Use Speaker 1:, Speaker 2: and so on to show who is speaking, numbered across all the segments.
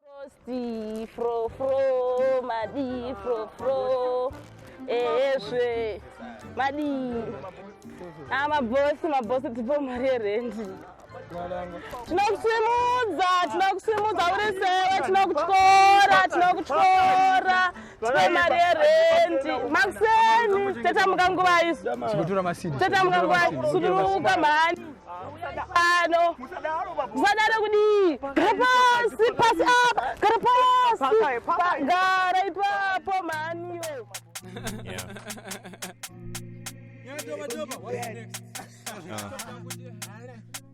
Speaker 1: Frosty, fro fro, madi fro fro, ezve madi. Ah, mabosi mabosi tipo mari yerendi. Tinokusimudza, tinokusimudza uri sewe, tinokutyora, tinokutyora. Tine mari yerendi makuseni tatamuka nguva isu Chigotora masidi. tatamuka nguva suduruka mhani pano musadaro kudii gara pasi pasi apa gara pasi Pa- gara ipapo mhani iwe
Speaker 2: Yeah, Doba Doba, what's next?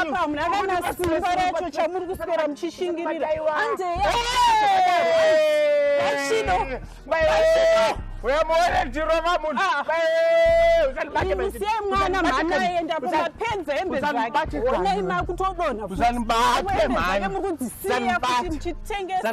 Speaker 3: apa hamuna kana simba racho chamuri kuswera muchishingirira uyamuona ndirova munhumusiyai mwana mhana aenda pamapenzi hembe zvakeonai makutodonha uzanibate mhani murikudzisiya kuti muchitengesa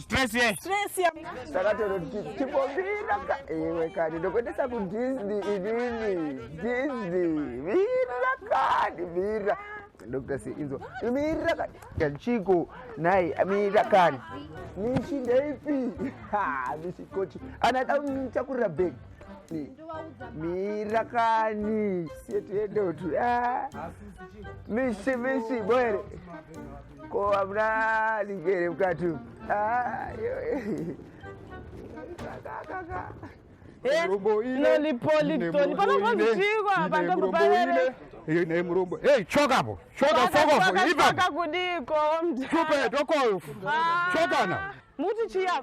Speaker 3: stress ye stress ya takatoro tipombira ka iwe kani ndokuendesa ku disney inini disney mira kani mira dr c inzo mira kani kachiko naye mira kani mishi ndeipi ha mishi kochi anada kuchakurira bag mira kani siye tiendeotu mishi mishi boere ko hamuna lingi here mukati naye murombo ei chokapo choka fokofo ipaakakudiko stupid okoyo chokana muti chiya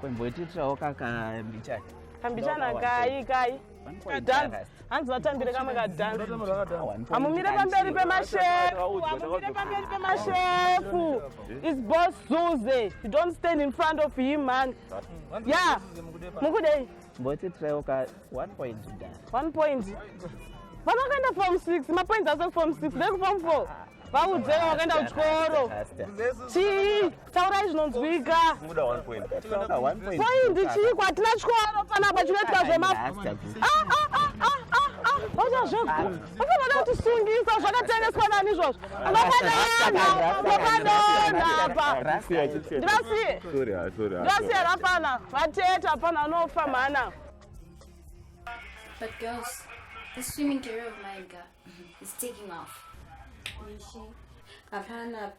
Speaker 1: kwemboitiitirawo kakambichani kambichani akai kai kadhanzi hanzi vatambire kamwe kadhanzi hamumire pamberi pemashefu hamumire pamberi pemashefu is boss zuze you don't stand in front of him man ya mukudei Mboti traiwo
Speaker 4: ka one point da. One point.
Speaker 1: Vana vakaenda form 6, ma points aso form 6, they form 4. Vaudze vakaenda kuchikoro. Chii? Taurai zvinonzwika. Muda one point.
Speaker 3: One point.
Speaker 1: Point chii kwatina chikoro pana apa chinoitwa zvema. Ah ah ah ah ah. Vachazvegura. Usanoda kutisungisa zvakatengeswa nani izvozvo. Vakadonha, vakadonha apa. Ndivasiye, ndivasiye hapana. Vatete hapana anofa mhana.
Speaker 5: But girls, this swimming career of mine, girl, is taking off. Hapana,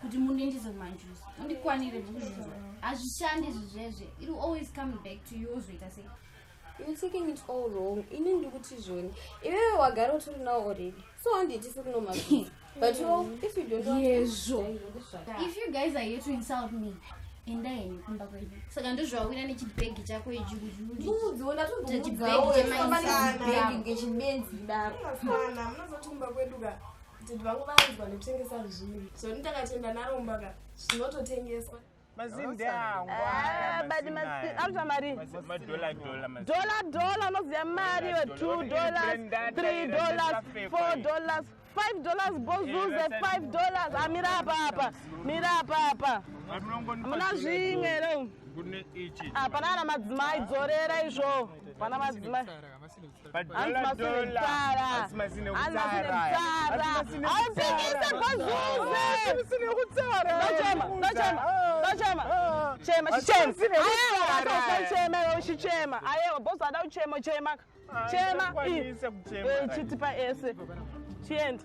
Speaker 5: kuti mundiendese kumanjuzi mundikwanire mukuzvinzwa hazvishandi izvi zvezve it will always come back to you ozoita sei you taking
Speaker 6: it all wrong ini ndikuti zvoni iwewe wagara utori now already so handiitisi kuno majuzi but you know, if you don't want yezvo if you guys are here
Speaker 5: to insult me enda henyu kumba kwedu saka ndozvawawira nechibhegi chako
Speaker 6: ichiuuu
Speaker 7: Did vangu vanzwa nekutengesa zviri. So ndakatenda naromba ka zvinototengeswa. Mazinde angu. Ah, badi
Speaker 1: mazinde. Anzwa mari. Madola dola mazinde. Dola dola unoziya mari yo 2 dollars, 3 dollars, 4 dollars. 5 dollars bozuze 5 dollars amira ah, apa apa mira apa apa muna zvimwe ro hapana ana madzimai dzorera izvo pana madzimai uchichema ayewa bosi ada uchema uchema chema chiti paese chiende